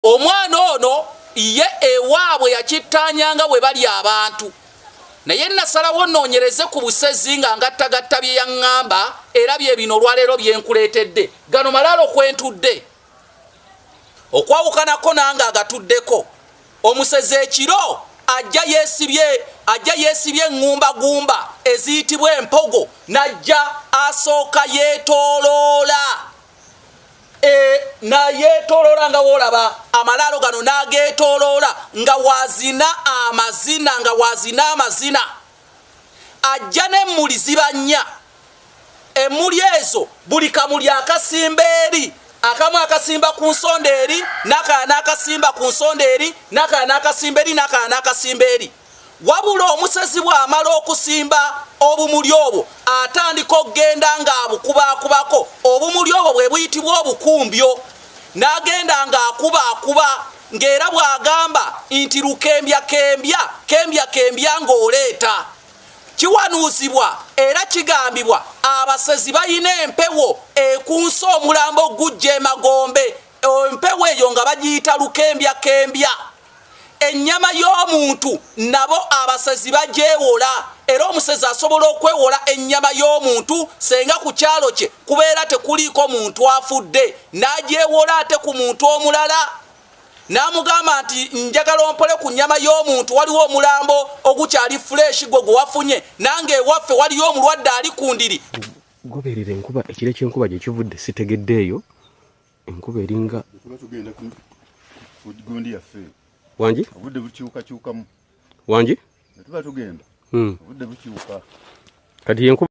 omwana ono ye ewaabwe yakittaanyanga bwe bali abantu naye nasalawo noonyereze ku busezi nga ngattagatta bye yaŋŋamba era bye bino olwaleero bye nkuleetedde gano malaalo kwentudde okwawukanako nange agatuddeko omusezi ekiro ajja yeesibye ajja yeesibye eŋŋumbagumba eziyitibwa empogo n'ajja asooka yeetooloola e, nayetoloola nga wolaba amalaalo gano nagetoloola nga wazina amazina nga wazina amazina ajja nemuli ziba nnya emuli ezo buli kamuli akasimba eri akamu akasimba ku nsonda eri nakana akasimba ku nsonda eri nakana akasimba eri nakana akasimba eri Wabula omusezi bw'amala okusimba obumuli obwo atandika okugenda ng'abukubaakubako obumuli obwo bwe buyitibwa obukumbyo n'agenda ng'akubakuba ng'era bw'agamba nti lukembya kembya kembya kembya ng'oleeta kiwanuuzibwa era kigambibwa abasezi balina empewo ekunsa omulambo gujja emagombe empewo eyo nga bagiyita lukembya kembya ennyama y'omuntu nabo abasezi bagyewola era omusezi asobola okwewola ennyama y'omuntu senga ku kyalo kye kubeera tekuliiko muntu afudde n'agyewola ate ku muntu omulala n'amugamba nti njagala ompole ku nnyama y'omuntu waliwo omulambo ogukyali fuleeshi gwe gwe wafunye nange ewaffe waliyo omulwadde ali ku ndiri goberera enkuba ekiro ky'enkuba gye kivudde sitegeddeeyo enkuba eringa gundi yaffe wangi obudde bukyukakyukamu wangi tuba tugenda hmm. obudde bukyuka kati yenkuba